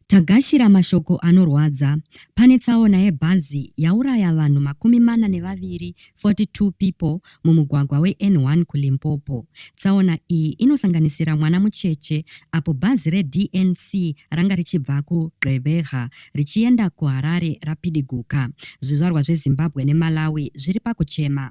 Tagashira mashoko anorwadza. Pane tsaona yebhazi yauraya vanhu makumi mana nevaviri, 42 people, mumugwagwa weN1 kuLimpopo. Tsaona iyi inosanganisira mwana mucheche apo bhazi reDNC ranga richibva kuGqeberha richienda kuHarare rapidiguka. Zvizvarwa zveZimbabwe neMalawi zviri pakuchema.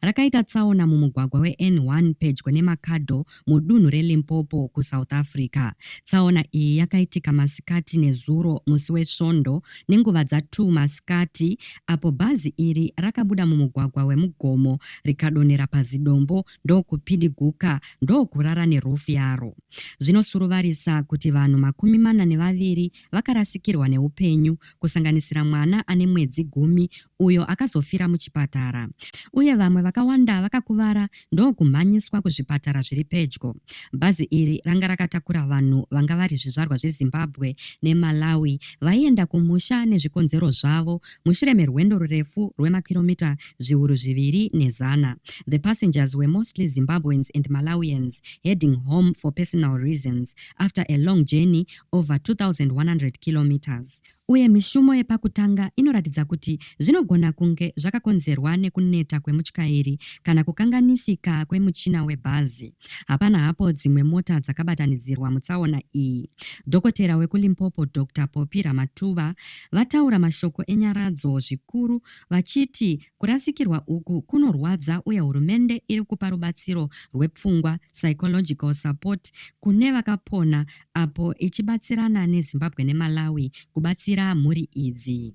rakaita tsaona mumugwagwa weN1 pedyo neMakhado mudunhu reLimpopo kuSouth Africa. Tsaona iyi yakaitika masikati nezuro musi weSvondo nenguva dza2 masikati apo bhazi iri rakabuda mumugwagwa weMugomo rikadonhera pazidombo ndokupidiguka ndokurara nerufu yaro. Zvinosuruvarisa kuti vanhu makumi mana nevaviri vakarasikirwa neupenyu, kusanganisira mwana ane mwedzi gumi uyo akazofira muchipatara, uye vamwe vakawanda vakakuvara ndokumhanyiswa kuzvipatara zviri pedyo. Bhazi iri ranga rakatakura vanhu vanga vari zvizvarwa zveZimbabwe neMalawi vaienda kumusha nezvikonzero zvavo mushure merwendo rurefu rwemakiromita zviuru zviviri nezana. The passengers were mostly Zimbabweans and Malawians heading home for personal reasons after a long journey over 2100 kilometres uye mishumo yepakutanga inoratidza kuti zvinogona kunge zvakakonzerwa nekuneta kwemutyairi kana kukanganisika kwemuchina webhazi hapana hapo dzimwe mota dzakabatanidzirwa mutsaona iyi dhokotera wekulimpopo dr popi ramatuva vataura mashoko enyaradzo zvikuru vachiti kurasikirwa uku kunorwadza uye hurumende iri kupa rubatsiro rwepfungwa psychological support kune vakapona apo ichibatsirana neZimbabwe neMalawi kubatsira mhuri idzi.